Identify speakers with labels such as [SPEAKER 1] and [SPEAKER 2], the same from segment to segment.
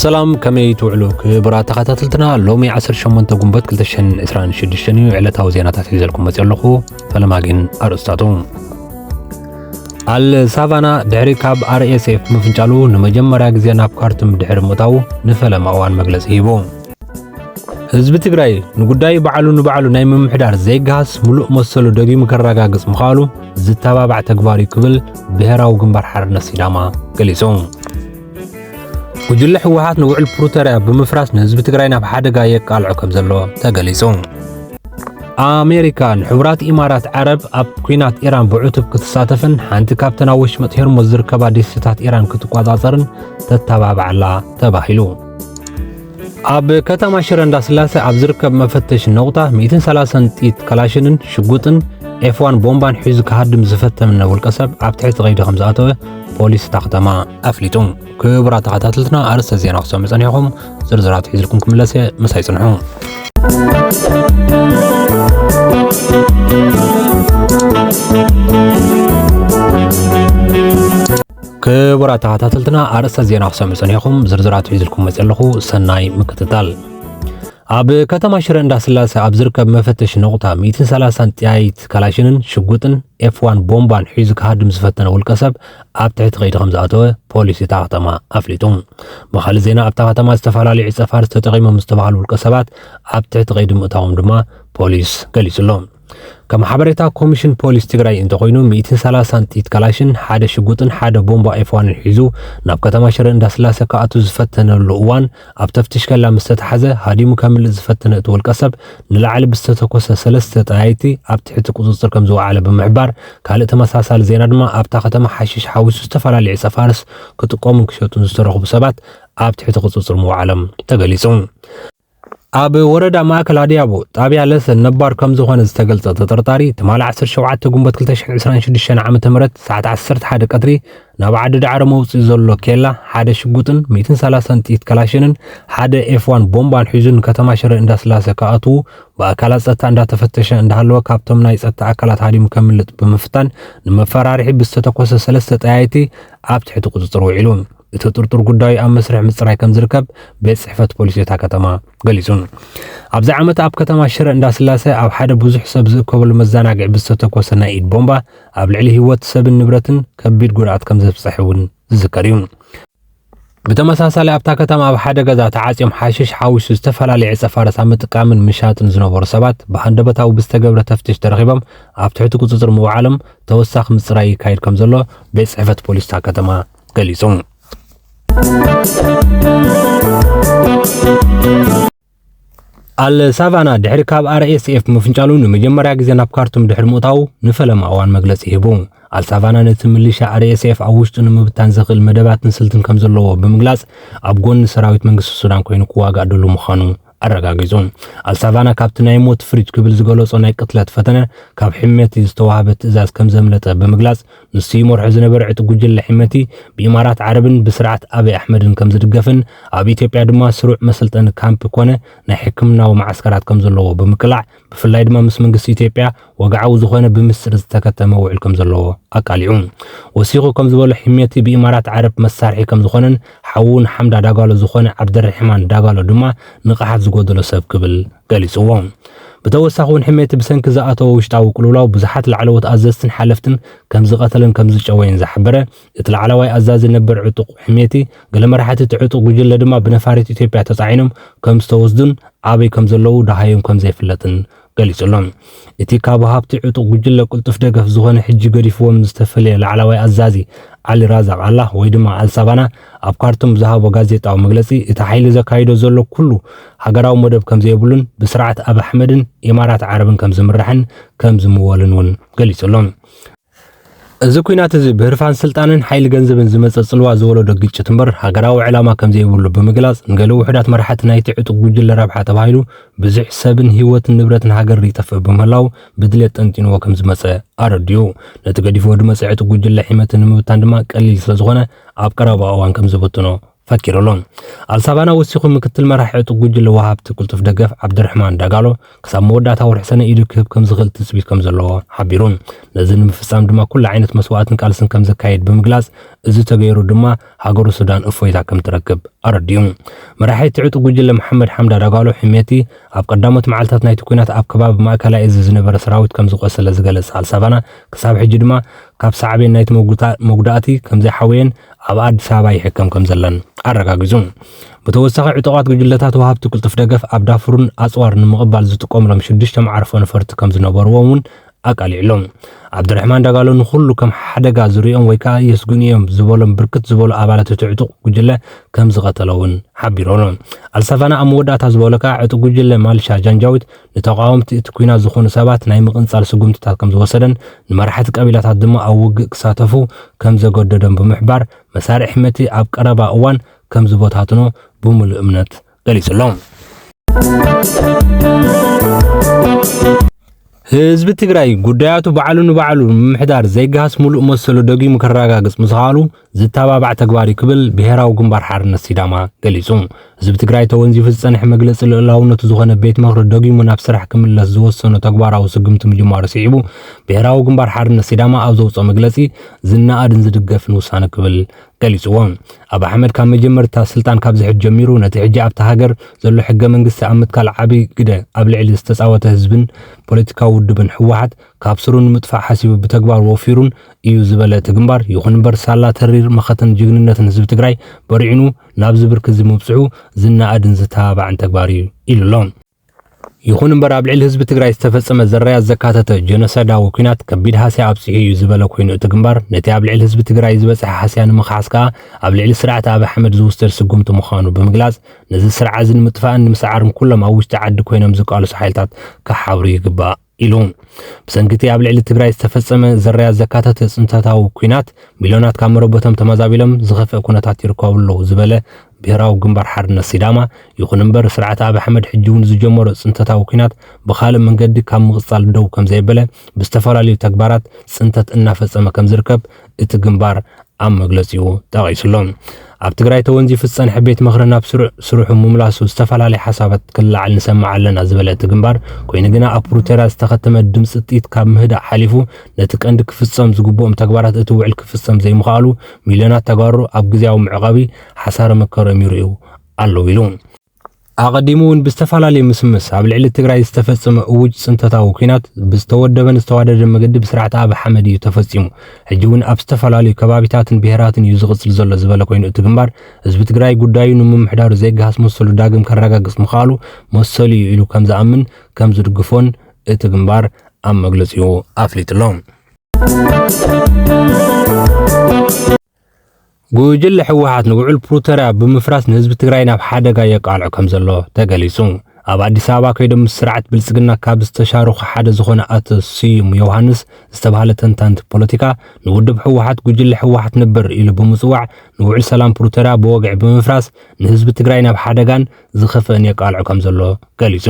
[SPEAKER 1] ሰላም ከመይ ትውዕሉ ክብራ ተኸታተልትና ሎሚ 18 ጉንበት 226 እዩ ዕለታዊ ዜናታት ሒዘልኩም መፅኦ ኣለኹ ፈለማ ግን ኣርእስታቱ ኣል ሳቫና ድሕሪ ካብ ኣርኤስኤፍ ምፍንጫሉ ንመጀመርያ ግዜ ናብ ካርቱም ድሕሪ ምእታው ንፈለማ እዋን መግለፂ ሂቡ ህዝቢ ትግራይ ንጉዳይ በዓሉ ንበዓሉ ናይ ምምሕዳር ዘይገሃስ ምሉእ መሰሉ ደጊሙ ከረጋግጽ ምኽኣሉ ዝተባባዕ ተግባር እዩ ክብል ብሔራዊ ግንባር ሓርነት ሲዳማ ገሊጹ ጉጅለ ህወሓት ንውዕል ፕሪቶርያ ብምፍራስ ንህዝቢ ትግራይ ናብ ሓደጋ የቃልዖ ከም ዘሎ ተገሊጹ። ኣሜሪካ ንሕቡራት ኢማራት ዓረብ ኣብ ኩናት ኢራን ብዕቱብ ክትሳተፍን ሓንቲ ካብተን ኣብ ወሽመጥ ሄርሞዝ ዝርከባ ደሴታት ኢራን ክትቆጻጸርን ተተባብዓላ ተባሂሉ። ኣብ ከተማ ሽረ እንዳስላሴ ኣብ ዝርከብ መፈተሽ ነቑጣ 130 ጥይት ከላሽንን ሽጉጥን ኤፍዋን ቦምባን ሒዙ ክሃድም ዝፈተምነ ውልቀ ሰብ ኣብ ትሕቲ ቀይዲ ከም ዝኣተወ ፖሊስ እታ ከተማ ኣፍሊጡ። ክቡራት ተኸታተልትና ኣርእስተ ዜና ክሰሙ ጸኒሕኩም ዝርዝራት ሒዝልኩም ክምለስ እየ ምሳይ ጽንሑ። ክቡራት ተኸታተልትና ኣርእስተ ዜና ክሰምዕን ኢኹም ዝርዝራት ሒዝልኩም መፅ ኣለኹ ሰናይ ምክትታል ኣብ ከተማ ሽረ እንዳስላሴ ኣብ ዝርከብ መፈተሽ ነቑጣ 130 ጥያይት ካላሽንን ሽጉጥን ኤፍዋን ቦምባን ሒዙ ክሃድም ዝፈተነ ውልቀ ሰብ ኣብ ትሕቲ ከይዲ ከም ዝኣተወ ፖሊስ እታ ከተማ ኣፍሊጡ ብካልእ ዜና ኣብታ ከተማ ዝተፈላለዩ ዕፀፋርስ ተጠቒሞም ዝተባሃሉ ውልቀ ሰባት ኣብ ትሕቲ ከይዲ ምእታዎም ድማ ፖሊስ ገሊጹ ኣሎ ከም ሓበሬታ ኮሚሽን ፖሊስ ትግራይ እንተኾይኑ ሚእትን ሰላሳን ጥይት ካላሽን ሓደ ሽጉጥን ሓደ ቦምባ ኤፍዋንን ሒዙ ናብ ከተማ ሽረ እንዳስላሰ ክኣቱ ዝፈተነሉ እዋን ኣብ ተፍትሽ ከላ ምስ ተታሕዘ ሃዲሙ ከምልጥ ዝፈተነ እቲ ውልቀሰብ ንላዕሊ ብዝተተኮሰ ሰለስተ ጠያይቲ ኣብ ትሕቲ ቁፅፅር ከምዝወዓለ ብምሕባር ካልእ ተመሳሳሊ ዜና ድማ ኣብታ ከተማ ሓሽሽ ሓዊሱ ዝተፈላለዩ ዕፀፋርስ ክጥቀሙን ክሸጡን ዝተረኽቡ ሰባት ኣብ ትሕቲ ቁፅፅር ምውዓሎም ተገሊፁ። ኣብ ወረዳ ማእከል ኣድያቦ ጣብያ ለሰ ነባር ከም ዝኾነ ዝተገልጸ ተጠርጣሪ ትማሊ 17 ግንቦት 2026 ዓ.ም ሰዓት 11 ቀትሪ ናብ ዓዲ ዳዕሮ መውጽኢ ዘሎ ኬላ ሓደ ሽጉጥን 130 ጥይት ከላሽንን ሓደ ኤፍዋን ቦምባን ሒዙ ንከተማ ሽረ እንዳስላሰ ክኣትዉ ብኣካላት ጸጥታ እንዳተፈተሸ እንዳሃለወ ካብቶም ናይ ጸጥታ ኣካላት ሃዲሙ ከምልጥ ብምፍታን ንመፈራርሒ ብዝተተኮሰ ሰለስተ ጠያይቲ ኣብ ትሕቲ ቁጽጽር ውዒሉ። እቲ ጥርጡር ጉዳዩ ኣብ መስርሕ ምፅራይ ከም ዝርከብ ቤት ፅሕፈት ፖሊስ እታ ከተማ ገሊፁ። ኣብዚ ዓመት ኣብ ከተማ ሽረ እንዳስላሰ ኣብ ሓደ ብዙሕ ሰብ ዝእከበሉ መዘናግዒ ብዝተተኮሰ ናይ ኢድ ቦምባ ኣብ ልዕሊ ህይወት ሰብን ንብረትን ከቢድ ጉድኣት ከም ዘብፀሐ እውን ዝዝከር እዩ። ብተመሳሳሊ ኣብታ ከተማ ኣብ ሓደ ገዛ ተዓፅዮም ሓሽሽ ሓዊሱ ዝተፈላለየ ዕፀ ፋረስ ኣብ ምጥቃምን ምሻጥን ዝነበሩ ሰባት ብሃንደበታዊ ብዝተገብረ ተፍትሽ ተረኺቦም ኣብ ትሕቲ ቁፅፅር ምውዓሎም ተወሳኺ ምፅራይ ይካየድ ከም ዘሎ ቤት ፅሕፈት ፖሊስ እታ ከተማ ገሊጹ። ኣልሳቫና ድሕሪ ካብ ኣርኤስኤፍ ምፍንጫሉ ንመጀመርያ ግዜ ናብ ካርቱም ድሕሪ ምእታው ንፈለማ እዋን መግለጺ ሂቡ። ኣልሳቫና ነቲ ምልሻ ኣርኤስኤፍ ኣብ ውሽጡ ንምብታን ዘኽእል መደባትን ስልትን ከም ዘለዎ ብምግላጽ ኣብ ጎኒ ሰራዊት መንግስቲ ሱዳን ኮይኑ ክዋጋእ ድሉ ምዃኑ ኣረጋጊጹ። ኣልሳቫና ካብቲ ናይ ሞት ፍሪጅ ክብል ዝገለጾ ናይ ቅትለት ፈተነ ካብ ሕመቲ ዝተዋህበ ትእዛዝ ከም ዘምለጠ ብምግላጽ ንሱ ይመርሖ ዝነበረ ዕጡቕ ጉጅለ ሕመቲ ብኢማራት ዓረብን ብስርዓት ኣቢይ ኣሕመድን ከም ዝድገፍን ኣብ ኢትዮጵያ ድማ ስሩዕ መሰልጠኒ ካምፕ ኮነ ናይ ሕክምናዊ መዓስከራት ከም ዘለዎ ብምቅላዕ ብፍላይ ድማ ምስ መንግስቲ ኢትዮጵያ ወግዓዊ ዝኾነ ብምስጢር ዝተከተመ ውዕል ከም ዘለዎ ኣቃሊዑ። ወሲኹ ከም ዝበሎ ሒሜቲ ብኢማራት ዓረብ መሳርሒ ከም ዝኾነን ሓዉ ንሓምዳ ዳጋሎ ዝኾነ ዓብደርሕማን ዳጋሎ ድማ ንቕሓት ዝጎደሎ ሰብ ክብል ገሊጽዎ። ብተወሳኺ እውን ሒሜቲ ብሰንኪ ዝኣተዎ ውሽጣዊ ቅልውላው ብዙሓት ላዕለዎት ኣዘዝትን ሓለፍትን ከም ዝቐተለን ከም ዝጨወየን ዝሓበረ እቲ ላዕላዋይ ኣዛዚ ነበር ዕጡቕ ሕሜቲ፣ ገለ መራሕቲ እቲ ዕጡቕ ጉጅለ ድማ ብነፋሪት ኢትዮጵያ ተጻዒኖም ከም ዝተወስዱን ኣበይ ከም ዘለዉ ደሃዮም ከም ዘይፍለጥን ገሊጹ'ሎ። እቲ ካብ ወሃብቲ ዕጡቕ ጉጅለ ቅልጡፍ ደገፍ ዝኾነ ሕጂ ገዲፍዎም ዝተፈልየ ላዕላዋይ ኣዛዚ ዓሊ ራዛቕ ኣላህ ወይ ድማ ኣልሳባና ኣብ ካርቱም ብዝሃቦ ጋዜጣዊ መግለጺ እቲ ሓይሊ ዘካይዶ ዘሎ ኩሉ ሃገራዊ መደብ ከም ዘየብሉን ብስርዓት ኣብይ ኣሕመድን ኢማራት ዓረብን ከም ዝምራሕን ከም ዝምወልን እውን ገሊጹ'ሎ። እዚ ኩናት እዚ ብህርፋን ስልጣንን ሓይሊ ገንዘብን ዝመጸ ጽልዋ ዝወለዶ ግጭት እምበር ሃገራዊ ዕላማ ከም ዘይብሉ ብምግላጽ ንገለ ውሑዳት መራሕቲ ናይቲ ዕጡቕ ጉጅለ ረብሓ ተባሂሉ ብዙሕ ሰብን ህይወትን ንብረትን ሃገርን ይጠፍእ ብምህላዉ ብድሌት ጠንጢንዎ ከም ዝመጸ ኣረዲኡ። ነቲ ገዲፍዎ ድመጸ ዕጡቕ ጉጅለ ሒመቲ ንምብታን ድማ ቀሊል ስለ ዝኾነ ኣብ ቀረባ እዋን ከም ዝብትኖ ፈኪሩ ኣሎ። ኣልሳባና ወሲኹ ምክትል መራሒ ዕጡቕ ጉጅለ ወሃብቲ ቅልጡፍ ደገፍ ዓብዲርሕማን ዳጋሎ ክሳብ መወዳእታ ወርሒ ሰነ ኢዱ ክህብ ከም ዝኽእል ትጽቢት ከም ዘለዎ ሓቢሩ። ነዚ ንምፍጻም ድማ ኩሉ ዓይነት መስዋእትን ቃልስን ከም ዘካይድ ብምግላጽ እዚ ተገይሩ ድማ ሃገሩ ሱዳን እፎይታ ከም ትረክብ ኣረዲኡ። መራሒ እቲ ዕጡቕ ጉጅለ መሓመድ ሓምዳ ዳጋሎ ሕሜቲ ኣብ ቀዳሞት መዓልታት ናይቲ ኲናት ኣብ ከባቢ ማእከላይ እዚ ዝነበረ ሰራዊት ከም ዝቖሰለ ዝገለጸ ኣልሳባና ክሳብ ሕጂ ድማ ካብ ሳዕቤን ናይቲ መጉዳእቲ ከም ዘይሓወየን ኣብ ኣዲስ ኣበባ ይሕከም ከም ዘለን ኣረጋጊጹ። ብተወሳኺ ዕጡቓት ጉጅለታት ወሃብቲ ቅልጡፍ ደገፍ ኣብ ዳፉርን ኣጽዋር ንምቕባል ዝጥቀምሎም ሽዱሽተ መዓርፎ ነፈርቲ ከም ዝነበርዎም እውን ኣቃሊዕሉ። ዓብዱረሕማን ዳጋሎ ንኹሉ ከም ሓደጋ ዝርእዮም ወይ ከዓ የስግኡኒ እዮም ዝበሎም ብርክት ዝበሉ ኣባላት እቲ ዕጡቕ ጉጅለ ከም ዝቐተለ እውን ሓቢሩ ኣሎ። ኣልሳቫና ኣብ መወዳእታ ዝበሎ ከዓ ዕጡቕ ጉጅለ ማልሻ ጃንጃዊት ንተቓወምቲ እቲ ኲናት ዝኾኑ ሰባት ናይ ምቕንጻል ስጉምትታት ከም ዝወሰደን ንመራሕቲ ቀቢላታት ድማ ኣብ ውግእ ክሳተፉ ከም ዘገደዶም ብምሕባር መሳርዕ ሕመቲ ኣብ ቀረባ እዋን ከም ዝበታትኖ ብምሉእ እምነት ገሊጹ ኣሎ። ህዝቢ ትግራይ ጉዳያቱ ባዕሉ ንባዕሉ ንምምሕዳር ዘይገሃስ ሙሉእ መሰሉ ደጊሙ ከረጋግጽ ምስኻሉ ዝተባባዕ ተግባር እዩ ክብል ብሄራዊ ግንባር ሓርነት ሲዳማ ገሊጹ። ህዝቢ ትግራይ ተወንዚፉ ዝጸንሐ መግለጺ ልኡላውነቱ ዝኾነ ቤት ምኽሪ ደጊሙ ናብ ስራሕ ክምለስ ዝወሰኖ ተግባራዊ ስጉምቲ ምጅማሩ ስዒቡ ብሄራዊ ግንባር ሓርነት ሲዳማ ኣብ ዘውጽኦ መግለጺ ዝነኣድን ዝድገፍን ውሳነ ክብል ገሊጽዎ። ኣብ ኣሕመድ ካብ መጀመርታ ስልጣን ካብ ዝሕድ ጀሚሩ ነቲ ሕጂ ኣብታ ሃገር ዘሎ ሕገ መንግስቲ ኣብ ምትካል ዓቢ ግደ ኣብ ልዕሊ ዝተጻወተ ህዝብን ፖለቲካዊ ውድብን ህወሓት ካብ ስሩ ንምጥፋእ ሓሲቡ ብተግባር ወፊሩን እዩ ዝበለ እቲ ግንባር፣ ይኹን እምበር ሳላ ተሪር መኸተን ጅግንነትን ህዝቢ ትግራይ በሪዕኑ ናብዚ ብርኪ እዚ ምብፅሑ ዝነኣድን ዝተባባዕን ተግባር እዩ ኢሉ ኣሎ። ይኹን እምበር ኣብ ልዕሊ ህዝቢ ትግራይ ዝተፈፀመ ዘራያት ዘካተተ ጀኖሳይዳዊ ኲናት ከቢድ ሃስያ ኣብፂሑ እዩ ዝበለ ኮይኑ እቲ ግንባር፣ ነቲ ኣብ ልዕሊ ህዝቢ ትግራይ ዝበፅሐ ሃስያ ንምኽሓስ ከዓ ኣብ ልዕሊ ስርዓት ኣብይ ኣሕመድ ዝውሰድ ስጉምቲ ምዃኑ ብምግላፅ ነዚ ስርዓ እዚ ንምጥፋእን ንምስዓርን ኩሎም ኣብ ውሽጢ ዓዲ ኮይኖም ዝቃለሱ ሓይልታት ክሓብሩ ይግባእ ኢሉ ብሰንኪ እቲ ኣብ ልዕሊ ትግራይ ዝተፈጸመ ዘራያት ዘካተተ ጽንተታዊ ኲናት ሚልዮናት ካብ መረበቶም ተመዛቢሎም ዝኸፍአ ኩነታት ይርከቡ ኣለዉ ዝበለ ብሄራዊ ግንባር ሓርነት ሲዳማ ይኹን እምበር ስርዓት ኣብ ኣሕመድ ሕጂ እውን ዝጀመሮ ጽንተታዊ ኲናት ብካልእ መንገዲ ካብ ምቕጻል ደው ከም ዘየበለ ብዝተፈላለዩ ተግባራት ጽንተት እናፈጸመ ከም ዝርከብ እቲ ግንባር ኣብ መግለጺኡ ጠቒሱ'ሎ። ኣብ ትግራይ ተወንዚፉ ዝጸንሐ ቤት ምኽሪ ናብ ስሩዕ ስርሑ ምምላሱ ዝተፈላለየ ሓሳባት ክለዓል ንሰምዕ ኣለና ዝበለ እቲ ግንባር፣ ኮይኑ ግና ኣብ ፕሩቶርያ ዝተኸተመ ድምጺ ጥይት ካብ ምህዳእ ሓሊፉ ነቲ ቀንዲ ክፍጸም ዝግብኦም ተግባራት እቲ ውዕል ክፍጸም ዘይምኽኣሉ ሚልዮናት ተጋሩ ኣብ ግዝያዊ መዕቘቢ ሓሳረ መከረኦም ይርእዩ ኣለዉ ኢሉ። ኣቐዲሙ እውን ብዝተፈላለዩ ምስምስ ኣብ ልዕሊ ትግራይ ዝተፈጸመ እውጅ ፅንተታዊ ኩናት ብዝተወደበን ዝተዋደደን መገዲ ብስርዓት ኣብ ሓመድ እዩ ተፈፂሙ። ሕጂ እውን ኣብ ዝተፈላለዩ ከባቢታትን ብሄራትን እዩ ዝቕፅል ዘሎ ዝበለ ኮይኑ እቲ ግንባር ህዝቢ ትግራይ ጉዳዩ ንምምሕዳሩ ዘይገሃስ መሰሉ ዳግም ከረጋግፅ ምኽኣሉ መሰሉ እዩ ኢሉ ከም ዝኣምን ከም ዝድግፎን እቲ ግንባር ኣብ መግለፂኡ ኣፍሊጡ ኣሎ። ጉጅለ ህወሓት ንውዕል ፕሪቶርያ ብምፍራስ ንህዝቢ ትግራይ ናብ ሓደጋ የቃልዖ ከም ዘሎ ተገሊጹ። ኣብ ኣዲስ ኣበባ ከይዶም ምስ ስርዓት ብልጽግና ካብ ዝተሻረኹ ሓደ ዝኾነ ኣቶ ስዩም ዮውሃንስ ዝተባህለ ተንታንቲ ፖለቲካ ንውድብ ህወሓት ጉጅለ ህወሓት ነበር ኢሉ ብምጽዋዕ ንውዕል ሰላም ፕሪቶርያ ብወግዒ ብምፍራስ ንህዝቢ ትግራይ ናብ ሓደጋን ዝኸፍእን የቃልዖ ከም ዘሎ ገሊጹ።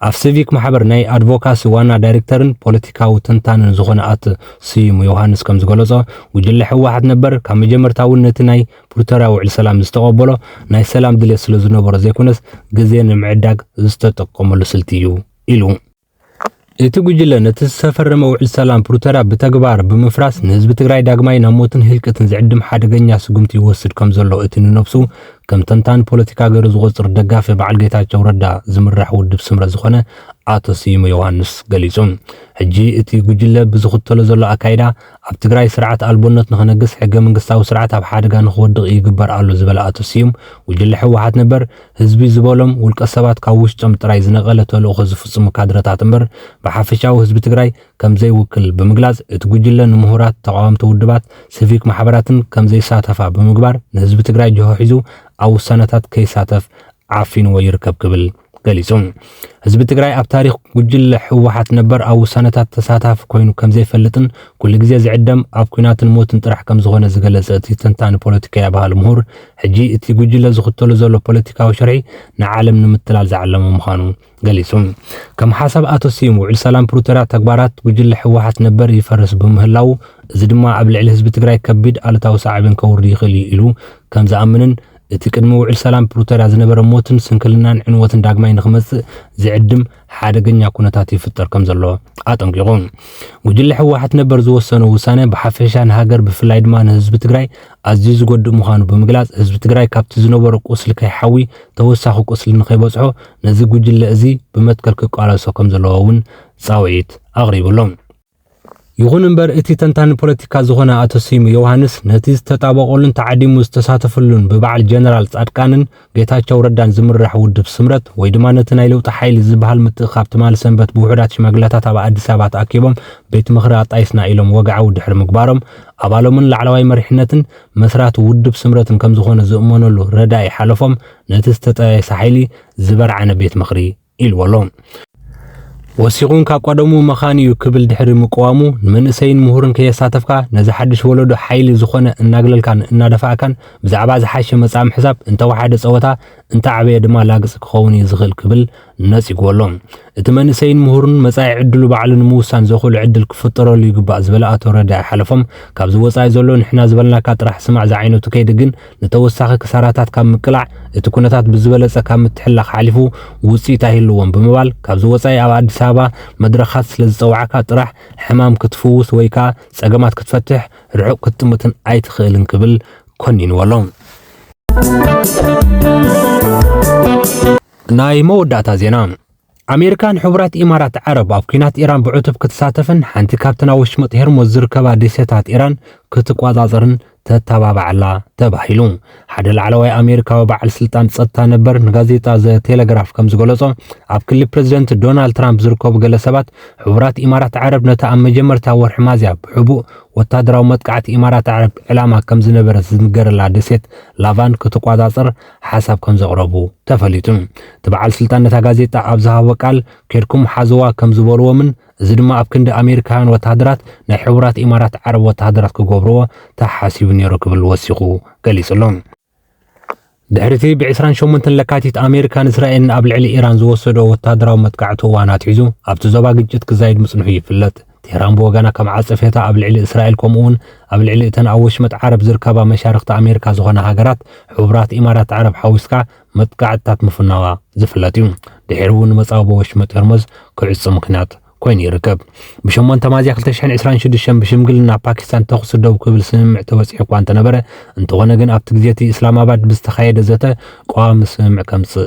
[SPEAKER 1] ኣብ ሲቪክ ማሕበር ናይ ኣድቮካሲ ዋና ዳይሬክተርን ፖለቲካዊ ተንታንን ዝኾነ ኣት ስዩም ዮሃንስ ከም ዝገለጾ ጉጅለ ህወሓት ነበር ካብ መጀመርታ እውን ነቲ ናይ ፕሪቶርያ ውዕል ሰላም ዝተቐበሎ ናይ ሰላም ድሌት ስለ ዝነበሮ ዘይኮነስ ግዜ ንምዕዳግ ዝተጠቀመሉ ስልቲ እዩ ኢሉ። እቲ ጉጅለ ነቲ ዝተፈረመ ውዕል ሰላም ፕሪቶርያ ብተግባር ብምፍራስ ንህዝቢ ትግራይ ዳግማይ ናብ ሞትን ህልቂትን ዝዕድም ሓደገኛ ስጉምቲ ይወስድ ከም ዘሎ እቲ ንነብሱ ከም ተንታኒ ፖለቲካ ገይሩ ዝቖጽር ደጋፊ በዓል ጌታቸው ረዳ ዝምራሕ ውድብ ስምረት ዝኾነ ኣቶ ስዩም ዮሃንስ ገሊጹ። ሕጂ እቲ ጉጅለ ብዝኽተሎ ዘሎ ኣካይዳ ኣብ ትግራይ ስርዓት ኣልቦነት ንኽነግስ ሕገ መንግስታዊ ስርዓት ኣብ ሓደጋ ንኽወድቕ ይግበር ኣሎ ዝበለ ኣቶ ስዩም፣ ጉጅለ ህወሓት ነበር ህዝቢ ዝበሎም ውልቀ ሰባት ካብ ውሽጦም ጥራይ ዝነቐለ ተልእኾ ዝፍፅሙ ካድረታት እምበር ብሓፈሻዊ ህዝቢ ትግራይ ከምዘይውክል ብምግላፅ እቲ ጉጅለ ንምሁራት፣ ተቓወምቲ ውድባት፣ ስቪክ ማሕበራትን ከምዘይሳተፋ ብምግባር ንህዝቢ ትግራይ ጅሆ ሒዙ ኣብ ውሳነታት ከይሳተፍ ዓፊንዎ ይርከብ ክብል ገሊጹ። ህዝቢ ትግራይ ኣብ ታሪኽ ጉጅለ ህወሓት ነበር ኣብ ውሳነታት ተሳታፊ ኮይኑ ከም ዘይፈልጥን ኩሉ ግዜ ዝዕደም ኣብ ኩናትን ሞትን ጥራሕ ከም ዝኾነ ዝገለጸ እቲ ተንታኒ ፖለቲከያ ባህሊ ምሁር ሕጂ እቲ ጉጅለ ዝኽተሉ ዘሎ ፖለቲካዊ ሽርሒ ንዓለም ንምትላል ዝዓለመ ምዃኑ ገሊጹ። ከም ሓሳብ ኣቶ ስዩም ውዕል ሰላም ፕሪቶርያ ተግባራት ጉጅለ ህወሓት ነበር ይፈርስ ብምህላው እዚ ድማ ኣብ ልዕሊ ህዝቢ ትግራይ ከቢድ ኣሉታዊ ሳዕቤን ከውርድ ይኽእል እዩ ኢሉ ከም ዝኣምንን እቲ ቅድሚ ውዕል ሰላም ፕሩተርያ ዝነበረ ሞትን ስንክልናን ዕንወትን ዳግማይ ንክመጽእ ዝዕድም ሓደገኛ ኩነታት ይፍጠር ከም ዘሎ ኣጠንቂቑ። ጉጅለ ህወሓት ነበር ዝወሰኖ ውሳነ ብሓፈሻ ንሃገር ብፍላይ ድማ ንህዝቢ ትግራይ ኣዝዩ ዝጎድእ ምዃኑ ብምግላጽ ህዝቢ ትግራይ ካብቲ ዝነበሮ ቁስሊ ከይሓዊ ተወሳኺ ቁስሊ ንከይበጽሖ ነዚ ጉጅለ እዚ ብመትከል ክቃለሶ ከም ዘለዎ እውን ጻውዒት ኣቕሪቡሎም። ይኹን እምበር እቲ ተንታኒ ፖለቲካ ዝኾነ ኣቶ ስዩም ዮውሃንስ ነቲ ዝተጣበቐሉን ተዓዲሙ ዝተሳተፈሉን ብበዓል ጀነራል ፃድቃንን ጌታቸው ረዳን ዝምራሕ ውድብ ስምረት ወይ ድማ ነቲ ናይ ለውጢ ሓይሊ ዝበሃል ምትእኽኻብ ትማሊ ሰንበት ብውሑዳት ሽማግለታት ኣብ ኣዲስ ኣበባ ተኣኪቦም ቤት ምኽሪ ኣጣይስና ኢሎም ወግዓዊ ድሕሪ ምግባሮም ኣባሎምን ላዕለዋይ መሪሕነትን መስራቲ ውድብ ስምረትን ከምዝኾነ ዝእመነሉ ረዳኢ ሓለፎም ነቲ ዝተጠያየሰ ሓይሊ ዝበርዓነ ቤት ምኽሪ ኢልዎ ኣሎ። ወሲኹን ካብ ቀደሙ መኻን እዩ ክብል ድሕሪ ምቅዋሙ ንመንእሰይን ምሁርን ከየሳተፍካ ነዚ ሓድሽ ወለዶ ሓይሊ ዝኾነ እናግለልካን እናደፋእካን ብዛዕባ ዝሓሸ መጻኢ ምሕሳብ እንተወሓደ ጸወታ እንተዓበየ ድማ ላግጺ ክኸውን እዩ ዝኽእል ክብል ነጺግዎ ኣሎ። እቲ መንእሰይን ምሁርን መጻኢ ዕድሉ ባዕሉ ንምውሳን ዘኽእሉ ዕድል ክፍጠረሉ ይግባእ ዝበለ ኣቶ ረዳኢ ሓለፎም ካብዚ ወጻኢ ዘሎ ንሕና ዝበልናካ ጥራሕ ስማዕ ዝዓይነቱ ከይዲ ግን ንተወሳኺ ክሳራታት ካብ ምቅላዕ እቲ ኩነታት ብዝበለፀ ካብ ምትሕልላኽ ሓሊፉ ውፅኢት ኣይህልዎን ብምባል ካብዚ ወፃኢ ኣብ ኣዲስ ኣበባ መድረኻት ስለዝፀውዓካ ጥራሕ ሕማም ክትፍውስ ወይ ከዓ ፀገማት ክትፈትሕ ርሑቕ ክትጥምትን ኣይትኽእልን ክብል ኮኒንዎ ኣሎ። ናይ መወዳእታ ዜና። ኣሜሪካ ንሕቡራት ኢማራት ዓረብ ኣብ ኲናት ኢራን ብዕቱብ ክትሳተፍን ሓንቲ ካብተን ኣብ ወሽመጥ ሄርሞዝ ዝርከባ ደሴታት ኢራን ክትቆጻጸርን ተተባባዓላ ተባሂሉ። ሓደ ላዕለዋይ ኣሜሪካዊ በዓል ስልጣን ጸጥታ ነበር ንጋዜጣ ዘ ቴሌግራፍ ከም ዝገለጾ ኣብ ክሊ ፕረዚደንት ዶናልድ ትራምፕ ዝርከቡ ገለ ሰባት ሕቡራት ኢማራት ዓረብ ነታ ኣብ መጀመርታ ወርሒ ማዝያ ብሕቡእ ወታደራዊ መጥቃዕቲ ኢማራት ዓረብ ዕላማ ከም ዝነበረት ዝንገረላ ደሴት ላቫን ክትቆጻጸር ሓሳብ ከምዘቕረቡ ተፈሊጡ። እቲ በዓል ስልጣን ነታ ጋዜጣ ኣብ ዝሃቦ ቃል፣ ኬድኩም ሓዝዋ ከም ዝበልዎምን እዚ ድማ ኣብ ክንዲ ኣሜሪካውያን ወተሃደራት ናይ ሕቡራት ኢማራት ዓረብ ወተሃደራት ክገብርዎ ተሓሲቡ ነይሩ ክብል ወሲኹ ገሊጹ'ሎ። ድሕሪ'ቲ ብ ዕስራን ሸሞንተን ለካቲት ኣሜሪካን እስራኤልን ኣብ ልዕሊ ኢራን ዝወሰድኦ ወተሃደራዊ መጥቃዕቲ እዋን ኣትሒዙ ኣብቲ ዞባ ግጭት ክዛይድ ምጽንሑ ይፍለጥ። ቴህራን ብወገና ከም ዓጸፌታ ኣብ ልዕሊ እስራኤል ከምኡ'ውን ኣብ ልዕሊ እተን ኣብ ወሽመጥ ዓረብ ዝርከባ መሻርኽቲ ኣሜሪካ ዝኾና ሃገራት ሕቡራት ኢማራት ዓረብ ሓዊስካ መጥቃዕትታት ምፍናዋ ዝፍለጥ እዩ። ድሒሩ እውን ንመጻብቦ ወሽመጥ ሆርሞዝ ክዕጾ ምኽንያት ኮይኑ ይርከብ። ብሸሞንተ ሚያዝያ ክልተ ሽሕን ዕስራን ሽዱሽተን ብሽምግልና ፓኪስታን ተኹሲ ደው ክብል ስምምዕ ተበጺሑ እኳ እንተነበረ፣ እንተኾነ ግን ኣብቲ ግዜ እቲ እስላማባድ ብዝተኻየደ ዘተ ቀዋሚ ስምምዕ ከምጽእ